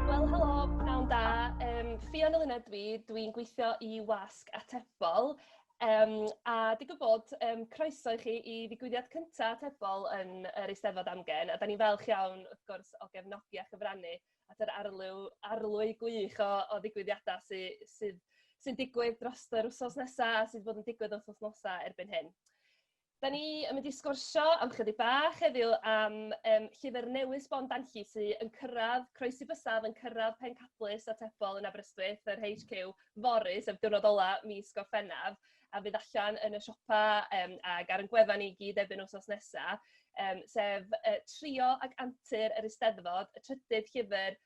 Wel helo, pnawn da. Yym Ffion Eluned dw i, dw i'n gweithio i Wasg Atebol yym a digwydd bod yym croeso i chi i ddigwyddiad cynta' Atebol yn yr Eisteddfod amgen a 'dan ni'n falch iawn wrth gwrs o gefnogi a chyfrannu at yr arlyw- arlwy gwych o o ddigwyddiada' sy sydd sy'n digwydd drost yr wsos nesa' a sy' 'di bod yn digwydd wrth wythnosa' erbyn hyn. Da ni yn mynd i sgwrsio am chydig bach heddiw am um, llyfr newydd sbon danlli sydd yn cyrraedd croesi bysaf yn cyrraedd pencadlys a tebol yn Aberystwyth yr HQ fory sef diwrnod ola mis Gorffennaf a fydd allan yn y siopa um, ac ar yn gwefan i gyd ebyn wsos nesaf um, sef uh, Trio ag Antur yr Eisteddfod, y trydydd llyfr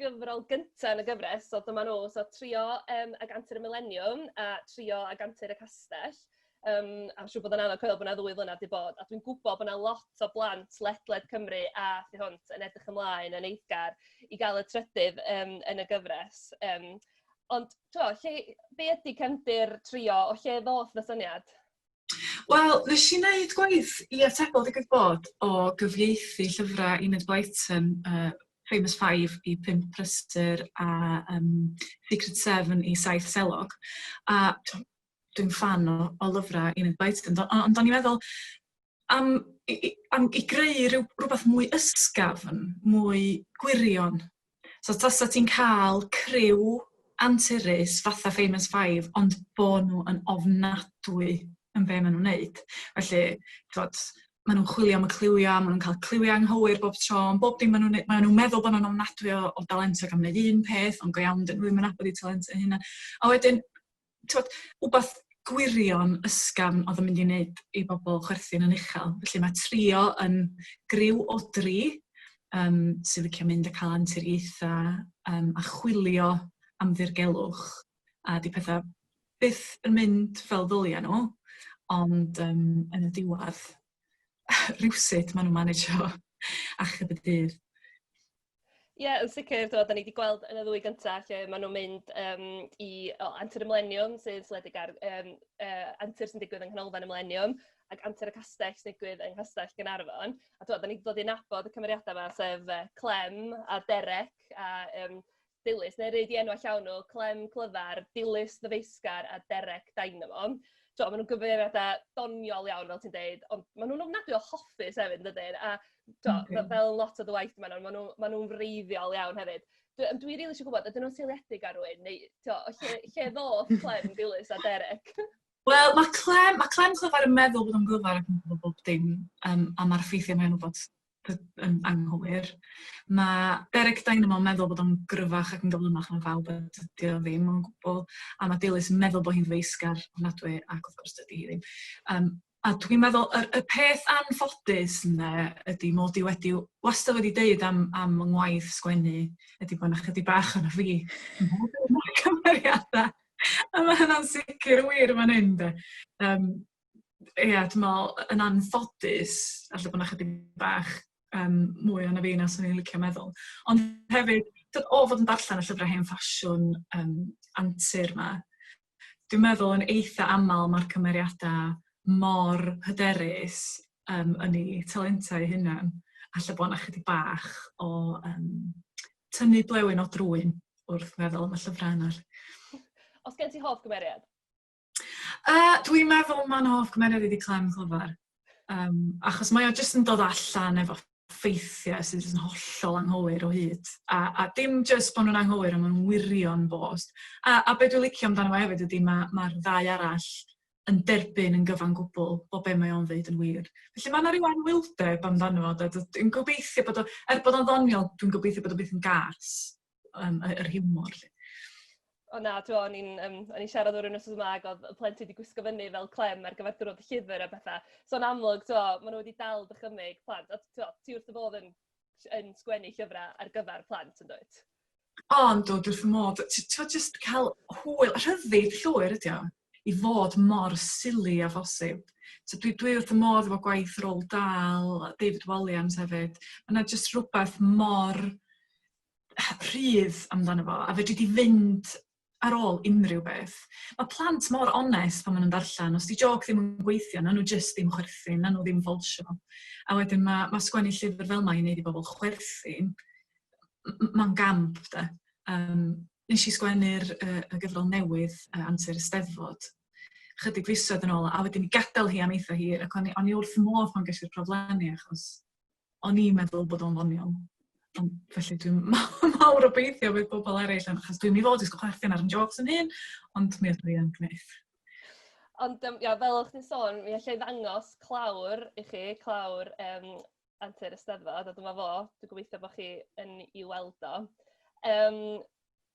gyfrol gynta' yn y gyfres, so dyma nhw, so Trio yym ag Antur y Mileniwm a Trio ag Antur y Castell. Yym a siŵr bod o'n anodd coelio bod 'na ddwy flynadd 'di bod, a dwi'n gwybod bod 'na lot o blant ledled Cymru a thu hwnt yn edrych ymlaen yn eiddgar i gael y trydydd yym yn y gyfres. Yym ond tibod lle... be ydy cefndir Trio, o lle ddoth y syniad? Wel, nes i wneud gwaith i atebol digwydd bod o gyfieithu llyfrau Enid Blyton, uh, Famous Five i Pimp Prysur a um, Secret Seven i Saith Selog. A dwi'n fan o, o lyfrau Enid Blyton, ond on, on, i'n meddwl am, i, am i greu rhyw, rhywbeth mwy ysgafn, mwy gwirion So tasa ti'n cael criw anturus fatha Famous Five, ond bo nhw yn ofnadwy yn be maen nhw'n neud. Felly, twod, maen nhw'n chwilio am y cliwiau, maen nhw'n cael cliwiau anghywir bob tro, ond bob dim maen nhw'n neud, maen nhw'n meddwl bod nhw'n ofnadwy o, o dalentog am wneud un peth, ond go iawn, dyn nhw ddim yn abod i talentau hynna. A wedyn, t'wod, wbath gwirion ysgafn o'dd yn mynd i wneud i bobl chwerthin yn uchel. Felly mae trio yn griw o dri um, sy'n licio mynd y cael anturiaethau um, a chwilio am ddirgelwch. A di pethau byth yn mynd fel ddylia nhw, ond um, yn y diwedd, rhywsut maen nhw'n managio achub y dydd. Ie yn sicr t'wod 'dan ni 'di gweld yn y ddwy gynta lle ma' nw'n mynd yym i o Antur y Mileniwm sy'n seiliedig ar yym yy antur sy'n digwydd yng Nghanolfan y Mileniwm ac Antur y Castell sy'n digwydd yng Nghastell Gaernarfon a t'wod 'dan ni 'di dod i nabod y cymeriada' 'ma sef yy Clem a Derec a yym Dilys neu rei 'di enwa' llawn nhw Clem Clyfar, Dilys Ddyfeisgar a Derec Dynamo. T'o' ma' nw'n gyfeiriada doniol iawn fel ti'n deud ond ma' nw'n ofnadwy o hoffus hefyd yndydyn a tibod, fel fel lot o dy waith di maen nhw, maen nhw maen nhw'n wreiddiol iawn hefyd. Dwi yym dwi rili isio gwybod, ydyn nhw'n seiliedig ar rywun, neu tibod, o lle lle ddoth Clem, Dilys a Derek? Wel, mae Clem, mae Clem Clyfar yn meddwl bod o'n glyfar ac yn gwybod bob dim um, am ar ffeithiau mae'n gwybod yn anghywir. Mae Derek Dynamo yn meddwl bod o'n gryfach ac yn gyflymach na fawr, a dydy o ddim o'n gwbl. A mae Dilys yn meddwl bod hi'n feisgar ofnadwy ac wrth gwrs dydy hi ddim. Um, A dwi'n meddwl y y peth anffodus ynde ydi mod i wedi wastad wedi deud am am fy ngwaith sgwennu ydi bo' 'na chydig bach ohono fi ym mhob un o'r cymeriada, a ma' hynna'n sicr wir yn fan hyn 'de. Yym ia dwi me'wl yn anffodus falle bo' 'na chydig bach yym mwy ohono fi na swn i'n licio meddwl. Ond hefyd t'od o fod yn darllen y llyfra hen ffasiwn yym antur 'ma dwi'n meddwl yn eitha aml mae'r cymeriadau mor hyderus um, yn ei talentau hunan, a lle bod yna chydig bach o um, tynnu blewyn o drwyn wrth feddwl am y llyfrau yna. Os gen ti hoff gymeriad? Uh, dwi'n meddwl mae'n hoff gymeriad i di Clem Clyfar. Um, achos mae o jyst yn dod allan efo ffeithiau sydd jyst yn hollol anghywir o hyd. A, a dim jyst bod nhw'n anghywir, ond maen nhw'n wirio'n bost. A, a beth dwi'n licio amdano fo hefyd ydy mae'r ma, ddau arall yn derbyn yn gyfan gwbl bod be mae o'n ddeud yn wir. Felly mae yna rhyw anwyldeb amdano fo. Dwi'n gobeithio bod o, er bod o'n ddoniol, dwi'n gobeithio bod o beth yn gas. um, yr hiwmor. Lle. O na, ti'n o'n i'n um, on siarad o'r un o'r yma ac oedd y plentyn wedi gwisgo fyny fel clem ar gyfer dwrnod y llyfr a bethau. So yn amlwg, ti'n o'n, maen nhw wedi dal dychymyg plant. A ti'n o'n, ti wrth y bodd yn, yn sgwennu llyfrau ar gyfer plant yn dweud? Ond o, dwi'n modd, ti'n just cael hwyl, rhyddid llwyr ydi o, i fod mor sili a phosib. So dwi, dwi wrth y modd efo gwaith Roald Dahl, David Walliams hefyd. Yna just rhywbeth mor rhydd amdano fo a fedri di fynd ar ôl unrhyw beth. Mae plant mor onest pan maen nhw'n darllen. Os di joc ddim yn gweithio, na nhw jyst ddim chwerthin, na nhw ddim falsio. A wedyn mae, mae sgwennu llyfr fel mae i wneud i bobl chwerthin, mae'n gamp de. Um, nes i sgwennu'r uh, y gyfrol newydd, uh, Antur y Steddfod, chydig fisoedd yn ôl, a wedyn i gadael hi am eitha hir, ac o'n i, on i wrth modd pan gesi'r proflenni, achos o'n i'n meddwl bod o'n ddoniol. Ond felly dwi'n mawr obeithio bydd pobl eraill yn, achos dwi'n mi fod i sgwch chwerthin ar yn jokes yn hyn, ond mi ydw i yn gwneud. Ond um, ia, fel o'ch chi'n sôn, mi allai ddangos clawr i chi, clawr um, antur ysteddfod, a dyma fo, dwi'n gobeithio bod chi yn ei weld o. Um,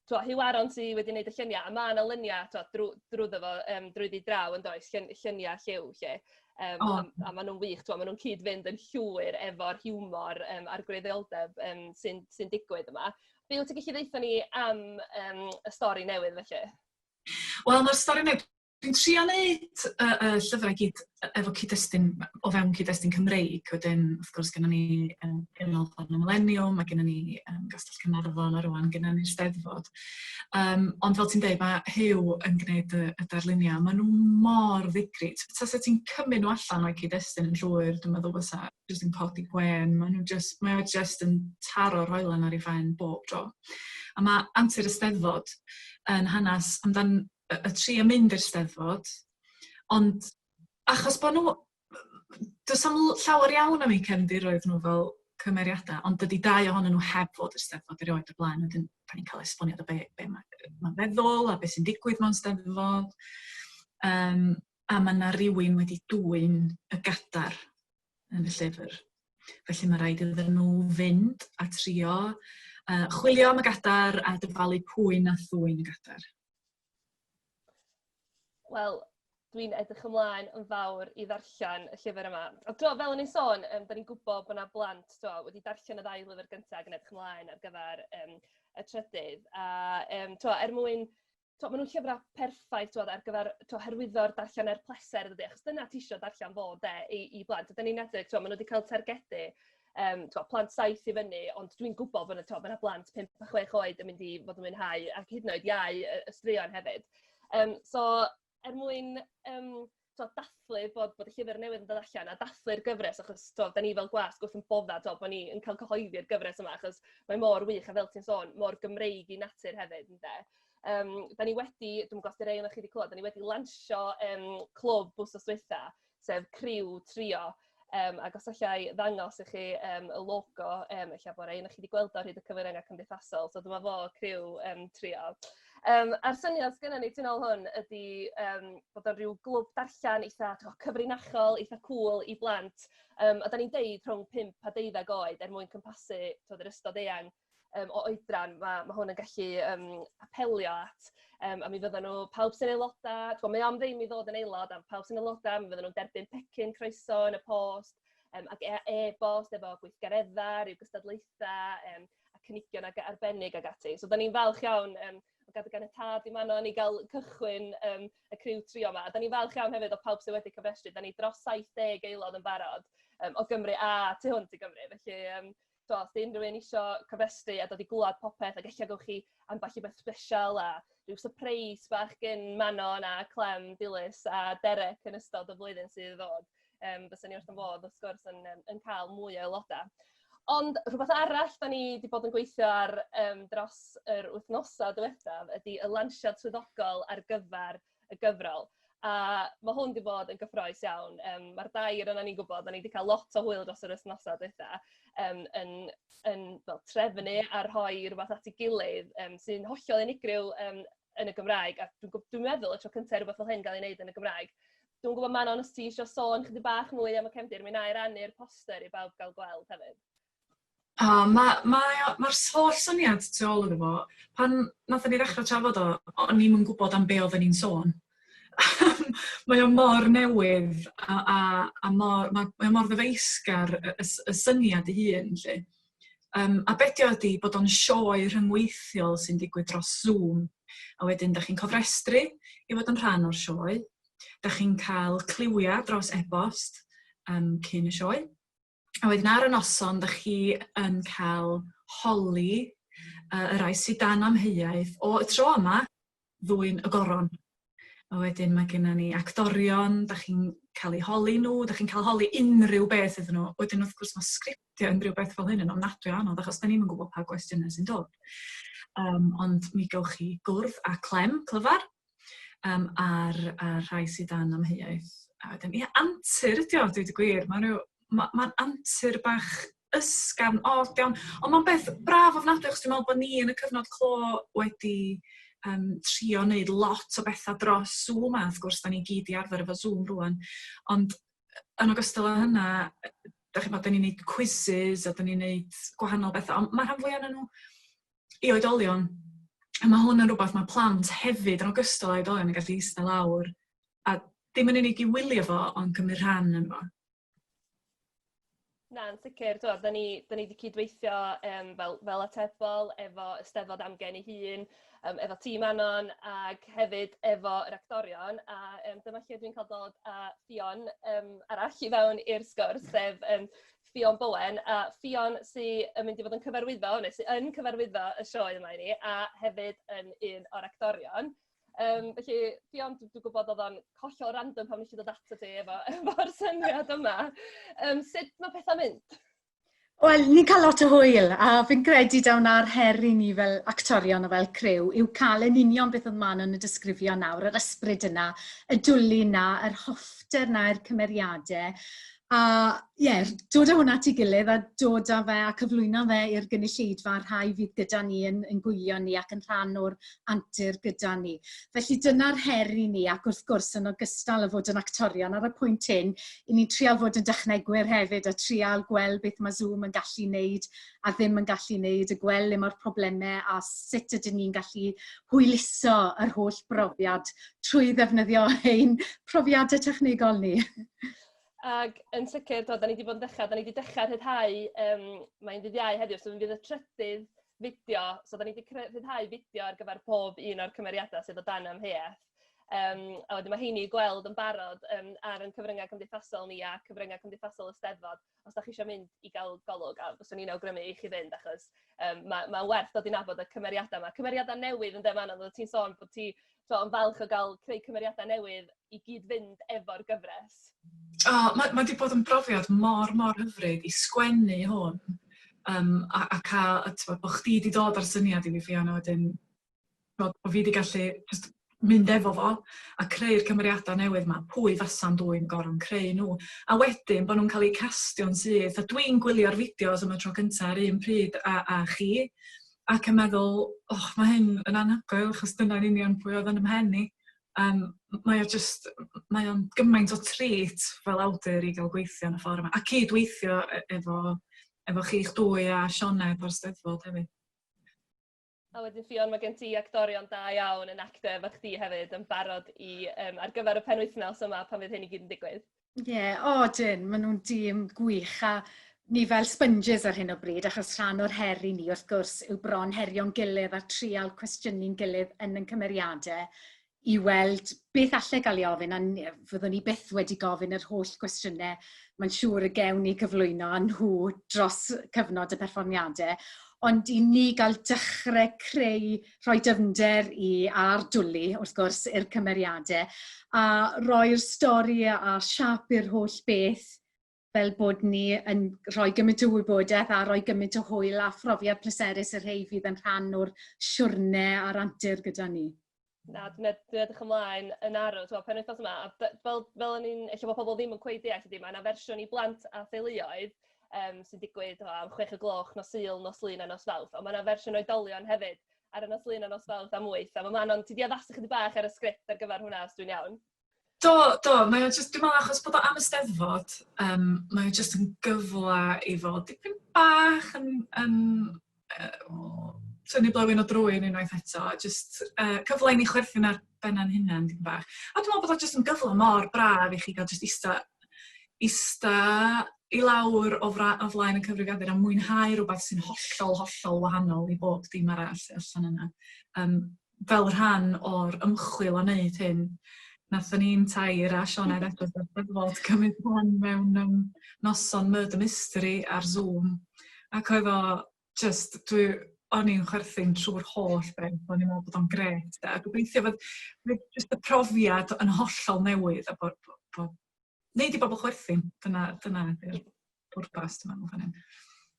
twa, Huw Aron sy wedi wneud y lluniau, a mae yna luniau twa, drw, drwyddo fo, um, drwyddi draw yn does, llun, lluniau lliw lle. Um, oh. a, a maen nhw'n wych, twa, maen nhw'n cyd-fynd yn llwyr efo'r hiwmor um, a'r gwreiddioldeb um, sy'n sy digwydd yma. Be wyt ti'n gallu ddeitha ni am um, y stori newydd felly? Wel, mae'r stori newydd Dwi'n trio neud y y llyfrau i gyd e- efo cyd-destun m- o fewn cyd-destun Cymreig, wedyn wrth gwrs gynnon ni yym Ganolfan y Mileniwm, ma' gynnon ni yym Gastell Caernarfon a rŵan gynnon ni'r Steddfod yym ond fel ti'n deud ma' Huw yn gneud y y darluniau, maen nhw mor ddigri, t- taset ti'n cymryd nhw allan o'u cyd-destun yn llwyr dwi'n meddwl fysa jyst yn codi gwên, maen nhw jyst, mae o jyst yn taro'r hoelen ar ei phen bob tro. A ma' Antur y Steddfod yn hanes amdan y, y tri yn mynd i'r steddfod, ond achos bod nhw... Does am llawer iawn am eu cefndiroedd nhw fel cymeriadau, ond dydy dau ohonyn nhw heb fod i'r steddfod erioed y blaen, wedyn pan ni'n cael esboniad o be, be mae'n ma feddwl a beth sy'n digwydd mewn steddfod. Um, a mae yna rhywun wedi dwy'n y gadar yn y llyfr. Felly mae rhaid iddyn nhw fynd a trio uh, chwilio am y gadar a dyfalu pwy na thwy'n y gadar. Wel, dwi'n edrych ymlaen yn fawr i ddarllen y llyfr yma. A do, fel o'n i'n sôn, um, da ni'n gwybod bod yna blant do, wedi darllen y ddau lyfr gyntaf ac yn edrych ymlaen ar gyfer um, y trydydd. A um, to, er mwyn, to, maen nhw'n llyfrau perffaith to, ar gyfer to, hyrwyddo'r darllen er pleser, dydy, achos dyna ti eisiau darllen fo de, i, i blant. A da ni'n edrych, to, maen nhw wedi cael targedu um, twa, plant saith i fyny, ond dwi'n gwybod bod yna ma blant 5 a 6 oed yn mynd i fod yn mwynhau, ac hyd yn oed iau y, y straeon hefyd. Um, so, er mwyn um, twa, dathlu bod, bod y llyfr newydd yn dod allan a dathlu'r gyfres, achos twa, da ni fel gwas gwrth yn bodda, twa, bod ni'n cael cyhoeddi'r gyfres yma, achos mae mor wych, a fel ti'n sôn, mor Gymreig i natur hefyd, ynddo. Um, da ni wedi, dwi'n gwybod os yw'r ei chi wedi clywed, da ni wedi lansio um, clwb bws os dweitha, sef criw trio. Um, ac os allai ddangos i chi um, y logo, um, eich bod ein, chi wedi gweld o'r hyd y cyfyngau cymdeithasol, so dyma fo criw um, trio. Um, a'r syniad sgynna ni ti'n ôl hwn ydy um, bod o'n rhyw glwb darllen eitha to, cyfrinachol, eitha cool i blant. Um, a da ni'n deud rhwng 5 a 12 oed er mwyn cympasu yr ystod eang um, o oedran, mae ma hwn yn gallu um, apelio at. Um, a mi fydden nhw, pawb sy'n aelodau, twa, mae am ddim i ddod yn aelod, a pawb sy'n aelodau, mi fydden nhw'n derbyn pecyn croeso yn y post, um, ac e, e-bost e efo gweithgareddau, rhyw gystadlaethau, um, a cynigion ag arbennig ag ati. So, da ni'n falch iawn um, o gadw gan y tad i Manon i gael cychwyn um, y criw trio yma. A da ni'n falch iawn hefyd o pawb sydd wedi cyfrestru. Da ni dros 70 aelod yn barod um, o Gymru a tu hwnt i Gymru. Felly, um, so, os di unrhyw un isio cofrestru a dod i glywed popeth ac eich gawch chi ambell i beth special a rhyw surprise bach gyn Manon a Clem Dilys a Derek yn ystod y flwyddyn sydd i ddod. Um, Bysen ni wrth yn fodd, wrth gwrs, yn, yn cael mwy o aelodau. Ond rhywbeth arall da ni wedi bod yn gweithio ar um, dros yr wythnosau diwethaf ydy y lansiad swyddogol ar gyfer y gyfrol. A mae hwn 'di bod yn gyffrous iawn. Yym, mae'r dair ohonan ni'n gwybod, dan ni 'di cael lot o hwyl dros yr wythnosau dwytha, yym, yn yn fel trefnu a rhoi rhywbeth at ei gilydd, yym, sy'n hollol unigryw yym yn y Gymraeg, a dwi'n gw- dwi'n meddwl y tro cynta i rywbeth fel hyn gael ei wneud yn y Gymraeg. Dwi'n gwybod, Manon, os ti isio sôn chydig bach mwy am y cefndir, mi wna i rannu'r poster i bawb gael gweld hefyd. O, ma' mae o ma'r s- holl syniad tu ôl iddo fo, pan nathon ni ddechra trafod o, o- o'n ni'm yn gwbod am be' oddan ni'n sôn. Mae o mor newydd a a a mor ma' mae o mor ddyfeisgar y y s- y syniad 'i hun 'lly. Yym a be' 'di o ydi bod o'n sioe rhyngweithiol sy'n digwydd dros Zoom, a wedyn 'dach chi'n cofrestru i fod yn rhan o'r sioe, 'dach chi'n ca'l cliwia' dros e-bost yym cyn y sioe. A wedyn ar y noson, dych chi yn cael holi uh, y rai sydd dan amheuaeth o y tro yma ddwy'n y goron. A wedyn mae genna ni actorion, da chi'n cael eu holi nhw, da chi'n cael holi unrhyw beth iddyn nhw. Wedyn wrth gwrs mae sgriptio unrhyw beth fel hyn yn ofnadwy o anodd achos da ni'n gwybod pa gwestiynau sy'n dod. Um, ond mi gawch chi gwrdd a Clem, clyfar, um, a'r, ar rhai sydd dan amheuaeth. A wedyn, ie, antur ydi o, dwi wedi gwir. Mae'n rhyw... Mae'n ma antur bach ysgafn, od iawn. Ond mae'n beth braf ofnadwy, achos dwi'n meddwl bod ni yn y cyfnod clo wedi um, trio wneud lot o bethau dros Zoom, a wrth gwrs, da ni gyd i arfer efo Zoom rwan. Ond yn ogystal â hynna, da chi'n bod, da ni'n gwneud quizzes a da ni'n gwneud gwahanol bethau, ond mae rhan fwy o'n nhw i oedolion, a mae hwn yn rhywbeth mae plant hefyd, yn ogystal â oedolion, yn gallu eistedd lawr a ddim yn unig i wylio fo, ond cymryd rhan yn fo. Na, yn sicr. Tibod, da ni, da ni wedi cydweithio um, fel, fel atebol efo Ysteddfod Amgen ei hun, um, efo tîm Anon ac hefyd efo yr actorion. A um, dyma lle dwi'n cael dod a Ffion um, arall i fewn i'r sgwrs, sef um, Ffion Bowen, a Ffion sy yn mynd i fod yn cyfarwyddo, neu sy yn cyfarwyddo y sioe yma i ni, a hefyd yn un o'r actorion. Um, felly, Ffion, dwi'n dwi gwybod oedd o'n hollol random pan nes i ddod ato ti efo, efo'r syniad yma. Um, sut mae pethau'n mynd? Wel, ni'n cael lot o hwyl, a fi'n credu daw na'r her i ni fel actorion a fel crew yw cael yn union beth oedd man yn y disgrifio nawr, yr ysbryd yna, y dwli yna, yr hoffter yna, yr cymeriadau, A ie, dod â hwnna at ei gilydd a dod â fe a cyflwyno fe i'r gynulleidfa, rhai fydd gyda ni yn ein gwylio ni ac yn rhan o'r antur gyda ni. Felly dyna'r her i ni ac wrth gwrs yn ogystal â fod yn actorion ar y pwynt hyn, 'y ni'n trial fod yn dechnegwyr hefyd a trial gweld beth mae Zoom yn gallu wneud a ddim yn gallu wneud, a gweld le mae'r problemau a sut ydyn ni'n gallu hwyluso yr holl brofiad trwy ddefnyddio ein profiadau technegol ni. Ag yn sicr t'od 'dan ni 'di bod yn dechra 'dan ni 'di dechra rhyddhau yym mae'n ddydd Iau heddiw so mi fydd y trydydd fideo so 'dan ni 'di cre- rhyddhau fideo ar gyfer pob un o'r cymeriada sydd o dan amheuaeth yym a wedyn ma' 'heini i gweld yn barod yym ar 'yn cyfrynga cymdeithasol ni a cyfrynga cymdeithasol y Steddfod os 'dach chi isio mynd i ga'l golwg a fyswn i'n awgrymu i chi fynd achos yym ma' ma'n werth dod i nabod y cymeriada 'ma. Cymeriada newydd ynde Manon oeddet ti'n sôn bod ti tibod, yn falch o gael creu cymeriadau newydd i gyd-fynd efo'r gyfres. O, oh, mae ma wedi bod yn brofiad mor, mor hyfryd i sgwennu hwn um, a, a cael, a tywed, bod chdi wedi dod ar syniad i fi Fiona wedyn, bod, bod fi wedi gallu just mynd efo fo a creu'r cymeriadau newydd yma, pwy fasa'n dwy'n gorfod creu nhw. A wedyn bod nhw'n cael eu castio'n syth, a dwi'n gwylio'r fideos am y tro cyntaf ar un pryd a, a chi, ac yn meddwl, och, mae hyn yn anhygoel, achos dyna'n union pwy oedd yn ymhen i. Um, mae o just, mae o'n gymaint o trit fel awdur i gael gweithio yn y ffordd yma, a cyd-weithio e-, efo, efo chi'ch dwy a Sioned o'r Steddfod hefyd. A wedyn Ffion, mae gen ti actorion da iawn yn actor efo chdi hefyd yn barod i um, ar gyfer y penwythnos yma pan fydd hyn i gyd yn digwydd. Ie, yeah, o oh, dyn, maen nhw'n dîm gwych a ni fel sponges ar hyn o bryd, achos rhan o'r her i ni wrth gwrs yw bron herio'n gilydd a trial cwestiynu'n gilydd yn yn cymeriadau i weld beth allai gael ei ofyn, a fyddwn ni byth wedi gofyn yr holl gwestiynau mae'n siŵr y gewn ni gyflwyno a nhw dros cyfnod y perfformiadau, ond i ni gael dechrau creu rhoi dyfnder i a'r dwli, wrth gwrs, i'r cymeriadau, a roi'r stori a siap i'r holl beth fel bod ni yn rhoi gymaint o wybodaeth a rhoi gymaint o hwyl a phrofiad pleserus y rhai fydd yn rhan o'r siwrne a'r antur gyda ni. Na, dwi'n ed dwi edrych ymlaen yn arw, t'mo' penwythnos yma a d- fel fel o'n i'n ella bod pobl ddim yn cweit deall ydi mae yna fersiwn i blant a theuluoedd um, sy'n digwydd o, am 6 o gloch nos Sul, nos Lun a nos Fawrth. Ond mae yna fersiwn oedolion hefyd ar y nos Lun a nos Fawrth am 8. A mae Manon, ti di addasu chydig bach ar y sgript ar gyfer hwnna, os dwi'n iawn? Do, do, mae o jyst, dwi'n meddwl achos bod o am y steddfod, um, mae o jyst yn gyfle i fod dipyn bach yn, yn tynnu blewyn o drwyn unwaith eto, a jyst uh, cyfle i ni chwerthin ar benna'n hunain dipyn bach. A dwi'n meddwl bod o jyst yn gyfle mor braf i chi gael jyst ista, ista i lawr o, fra, o flaen y cyfrifiadur a mwynhau rhywbeth sy'n hollol, hollol wahanol i bob dim arall allan yna. Um, fel rhan o'r ymchwil o wneud hyn, wnaethon ni'n tair a Sioned Edwards o'r Steddfod cymryd rhan mewn um, noson Murder Mystery ar Zoom, ac oedd o just, dwi, o'n i'n chwerthin trwy'r holl beth, o'n i'n meddwl bod o'n gret, a gobeithio fod just y profiad yn hollol newydd, a bod, bod, bod neud i bobl chwerthin. Dyna, dyna yw'r pwrpas, dwi'n meddwl, fan hyn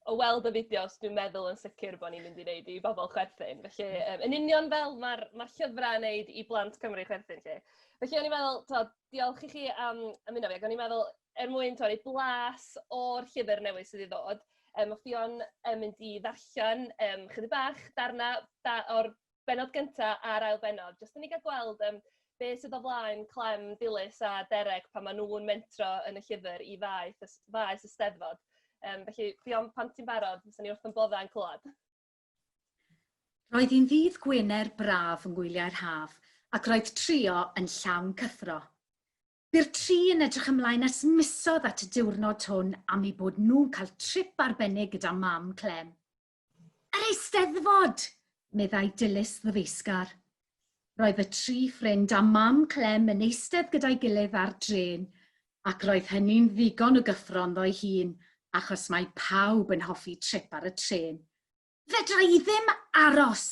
o weld y fideos, dwi'n meddwl yn sicr bod ni'n mynd i wneud i bobl chwerthin. Felly, um, yn union fel mae'r ma llyfrau yn wneud i blant Cymru chwerthin lle. Felly, o'n i'n meddwl, to, diolch i chi am ymuno fi, ac o'n i'n meddwl, er mwyn torri blas o'r llyfr newydd sydd i ddod, um, o'ch di o'n um, mynd i ddarllen um, chydig bach darna da, o'r bennod gynta' a'r ail bennod, jyst i ni ga'l gweld yym be' sydd o flaen Clem, Dilys a Dereg pan ma' nhw'n mentro yn y llyfr i faeth y s- faes y 'Steddfod. Yym felly Ffion pan ti'n barod fyswn ni wrth yn bodda'n clywed. Roedd hi'n ddydd Gwener braf yng ngwyliau'r haf ac roedd Trio yn llawn cyffro. Bu'r tri yn edrych ymlaen ers misoedd at y diwrnod hwn am eu bod nhw'n cael trip arbennig gyda mam Clem. Yr Eisteddfod! meddai Dilys ddifaesgar. Roedd y tri ffrind a Mam Clem yn eistedd gyda'i gilydd ar drên, ac roedd hynny'n ddigon o gyffro ynddo'i hun, achos mae pawb yn hoffi trip ar y trên. Fedra i ddim aros!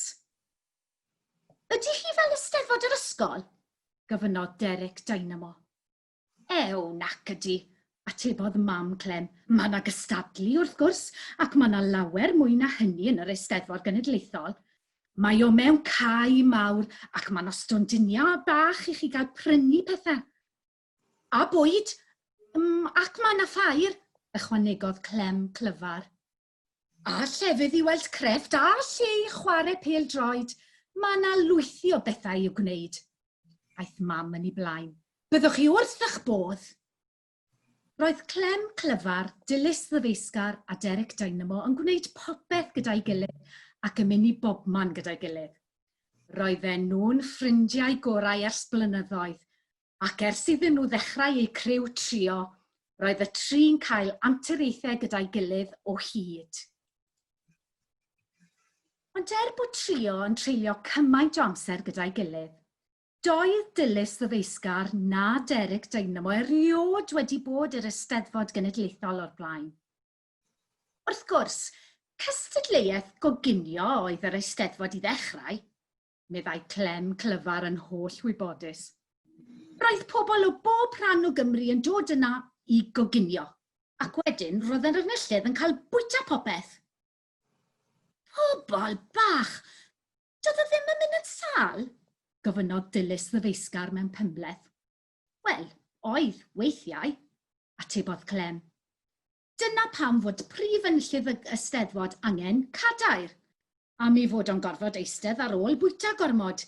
Ydy hi fel Eisteddfod yr ysgol? gofynnodd Derek Dynamo. Ew, nac ydy, atebodd Mam Clem. Mae 'na gystadlu, wrth gwrs, ac mae 'na lawer mwy na hynny yn yr Eisteddfod Genedlaethol. Mae o mewn cae mawr ac mae 'na stondiniau bach i chi gael prynu pethau. A bwyd! Mm, ac mae 'na ffair, ychwanegodd Clem clyfar. A llefydd i weld crefft a lle i chwarae pêl-droed, mae yna lwythi o bethau i'w gwneud. Aeth Mam yn ei blaen. Byddwch chi wrth eich bodd! Roedd Clem Clyfar, Dilys Ddyfeisgar a Derek Dynamo yn gwneud popeth gyda'i gilydd ac yn mynd i bobman gyda'i gilydd. Roedden nhw'n ffrindiau gorau ers blynyddoedd, ac ers iddyn nhw ddechrau eu criw trio, roedd y tri'n cael anturiaethau gyda'i gilydd o hyd. Ond er bod trio yn treulio cymaint o amser gyda'i gilydd, doedd Dilys Ddyfeisgar na Derek Dynamo erioed wedi bod i'r Eisteddfod Genedlaethol o'r blaen. Wrth gwrs, cystadleuaeth goginio oedd yr Eisteddfod i ddechrau, meddai Clem clyfar yn holl wybodus. Roedd pobl o bob rhan o Gymru yn dod yna i goginio, ac wedyn roedd yr enillydd yn cael bwyta popeth. Pobl bach! Doedd e ddim yn mynd yn sâl? gofynnodd Dilys ddyfeisgar mewn pymhleth. Wel, oedd, weithiau, atebodd Clem. Dyna pam fod prif enllydd y Eisteddfod angen cadair. Am ei fod o'n gorfod eistedd ar ôl bwyta gormod.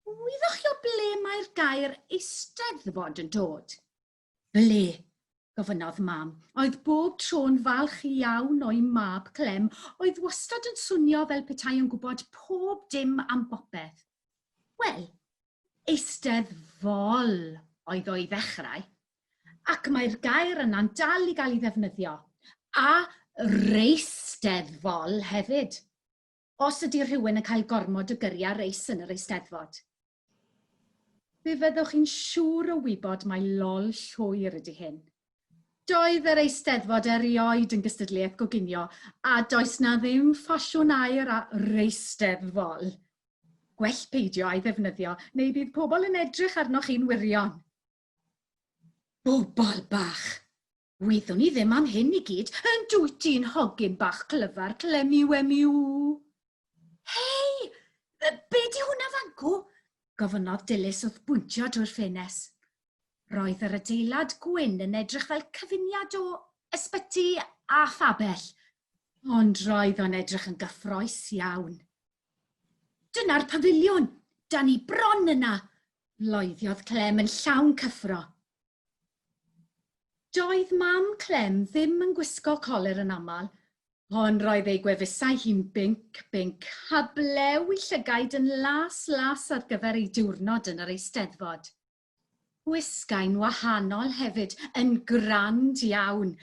Wyddoch chi o ble mae'r gair Eisteddfod yn dod? Ble? gofynnodd Mam. Oedd bob tro'n falch iawn o'i mab Clem oedd wastad yn swnio fel petai yn gwybod pob dim am bopeth. Wel, Eisteddfol oedd o i ddechrau. ac mae'r gair yna'n dal i gael ei ddefnyddio, a reisteddfol hefyd, os ydy rhywun yn cael gormod o gyri a reis yn yr eisteddfod. Fe fyddwch chi'n siŵr o wybod mai lol llwyr ydy hyn. Doedd yr eisteddfod erioed yn gystadleuaeth goginio a does 'na ddim ffasiwn aer a reisteddfol. Gwell peidio a'i ddefnyddio neu bydd pobl yn edrych arnoch chi'n wirion. Bobol bach! Wyddwn i ddim am hyn i gyd, yn dwyt ti'n hogyn bach clyfar clemi wemi ww! Hei! Be di hwnna fancw? gofynnodd Dilys wrth bwyntio drwy'r ffenes. Roedd yr adeilad gwyn yn edrych fel cyfuniad o ysbyty a phabell, ond roedd o'n edrych yn gyffroes iawn. Dyna'r pafiliwn! Da ni bron yna! loeddiodd Clem yn llawn cyffro. Doedd mam Clem ddim yn gwisgo colur yn aml, ond roedd ei gwefusau hi'n binc, binc, heblew 'i llygaid yn las, las ar gyfer ei diwrnod yn yr Eisteddfod. Gwisgai'n wahanol hefyd, yn grand iawn.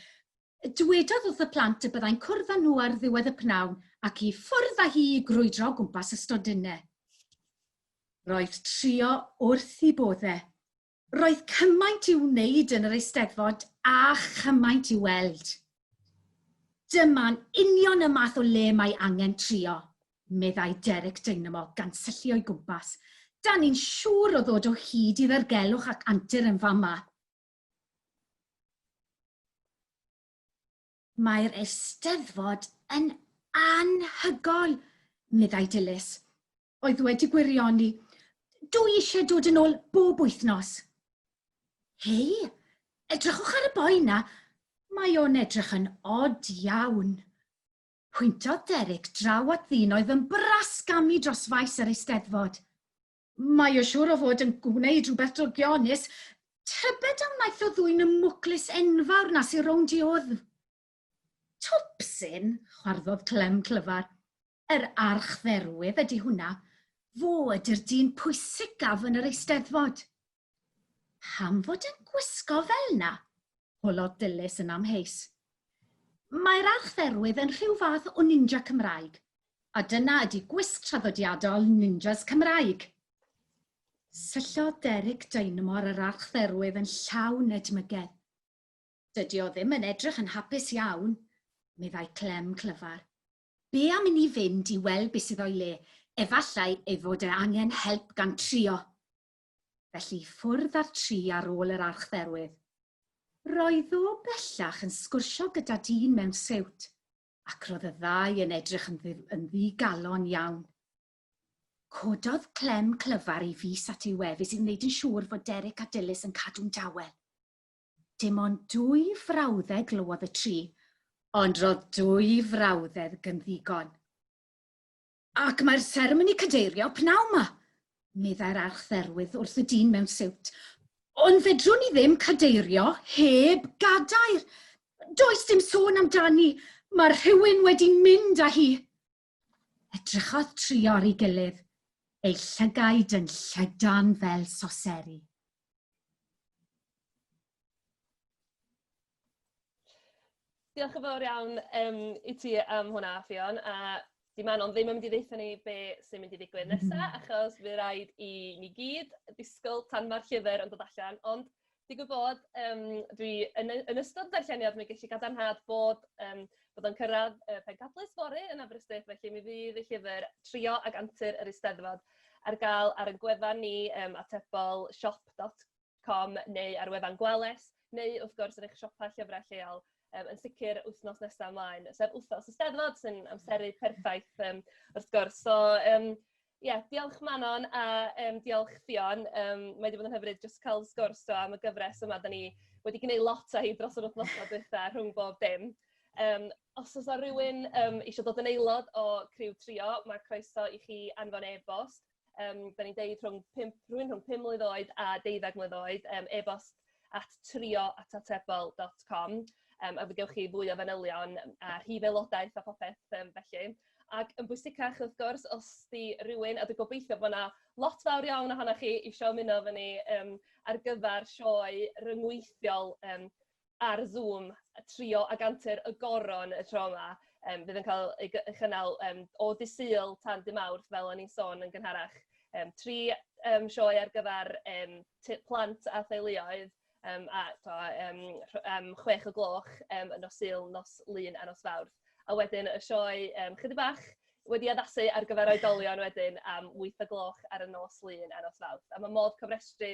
Dwedodd wrth y plant y byddai'n cwrdd â nhw ar ddiwedd y pnawn ac i ffwrdd â hi i grwydro o gwmpas y stondinne. Roedd trio wrth i bodde. Roedd cymaint i'w wneud yn yr Eisteddfod a chymaint i'w weld. Dyma'n union y math o le mae angen trio. meddai Derek Dynamo gan syllu o'i gwmpas. Dan ni'n siŵr o ddod o hyd i ddirgelwch ac antur yn fan 'ma. Mae'r Eisteddfod yn anhygoel, meddai Dilys, oedd wedi gwirioni, Dw i eisiau dod yn ôl bob wythnos. Hei, edrychwch ar y boi 'na, mae o'n edrych yn od iawn. Pwyntodd Derek draw at ddyn oedd yn brasgamu dros faes yr Eisteddfod. Mae o siŵr o fod yn gwneud rhywbeth drygionus, tybed a wnaeth o ddwyn y mwclis enfawr 'na sy rownd i wddf? Twpsyn! chwarddodd Clem clyfar. Yr archdderwydd ydi hwnna. Fo ydi'r dyn pwysicaf yn yr Eisteddfod. Pam fod yn gwisgo fel na? holodd Dilys yn amheus. Mae'r archdderwydd yn rhyw fath o ninja Cymraeg, a dyna ydi gwisg traddodiadol ninjas Cymraeg! Syllodd Derek Dynamo ar yr archdderwydd yn llawn edmygedd. Dydi o ddim yn edrych yn hapus iawn, meddai Clem clyfar. Be am inni fynd i weld be sydd o'i le, efallai ei fod e angen help gan trio. felly ffwrdd â'r tri ar ôl yr archdderwydd. Roedd o bellach yn sgwrsio gyda dyn mewn siwt, ac roedd y ddau yn edrych yn yn ddi-galon iawn. Cododd Clem clyfar ei fys at ei wefus i wneud yn siŵr fod Derek a Dilys yn cadw'n dawel. Dim ond dwy frawddeg glywodd y tri, ond roedd dwy frawddeg yn ddigon. Ac mae'r seremoni cadeirio pnawn 'ma, meddai'r Archdderwydd wrth y dyn mewn siwt. Ond fedrwn ni ddim cadeirio heb gadair. Does dim sôn amdani, mae rhywun wedi mynd â hi. Edrychodd trio ar ei gilydd, eu llygaid yn llydan fel soseri. Diolch yn fawr iawn um, i ti am hwnna, Fion, a di Manon ddim yn mynd i ddeitha ni be sy'n mynd i ddigwydd nesa, mm-hmm. achos fe rhaid i ni gyd ddisgwyl tan mae'r llyfr yn dod allan, ond digwydd bod, um, dwi yn, yn ystod darlleniad, mi gallu gadarnhad bod, um, bod o'n cyrraedd uh, pencadlys fori yn Aberystwyth, felly mi fydd y llyfr Trio ag Antur yr Eisteddfod ar gael ar y gwefan ni um, atebol shop.co com neu ar wefan Gwales, neu wrth gwrs yn eich siopa llyfrau lleol um, yn sicr wythnos nesaf ymlaen, sef wythnos y Steddfod sy'n amseru perffaith um, wrth gwrs. So, um, yeah, diolch Manon a um, diolch Fion. Um, mae wedi bod yn hyfryd jyst cael sgwrs do am y gyfres yma. Da ni wedi gwneud lot o hi dros yr wythnos o dweitha rhwng bob dim. Um, os oes rhywun um, eisiau dod yn aelod o Criw Trio, mae croeso i chi anfon e-bost Yym dan ni'n deud rhwng pump... rhywun rhwng pum mlwydd oed a deuddeg mlwydd oed yym e-bost at trio at atebol dot com yym a fe gewch chi fwy o fanylion a rhif aelodaeth a phopeth yym felly. Ac yn bwysicach wrth gwrs os 'di rywun a dwi gobeithio bod 'na lot fawr iawn ohonoch chi isio ymuno efo ni yym ar gyfer sioe ryngweithiol yym ar Zoom trio ag antur y goron y tro yma. Yym bydd yn cael ei gy- ei chynnal yym o ddydd Sul tan dydd Mawrth fel o'n i'n sôn yn gynharach. Yym tri yym sioe ar gyfer yym t- plant a theuluoedd yym a t'o' yym rh- yym chwech o gloch yym yn nos Sul, nos Lun a nos Fawrth. A wedyn y sioe yym chydig bach wedi addasu ar gyfer oedolion wedyn am wyth o gloch ar y nos Lun a nos Fawrth. A ma' modd cofrestru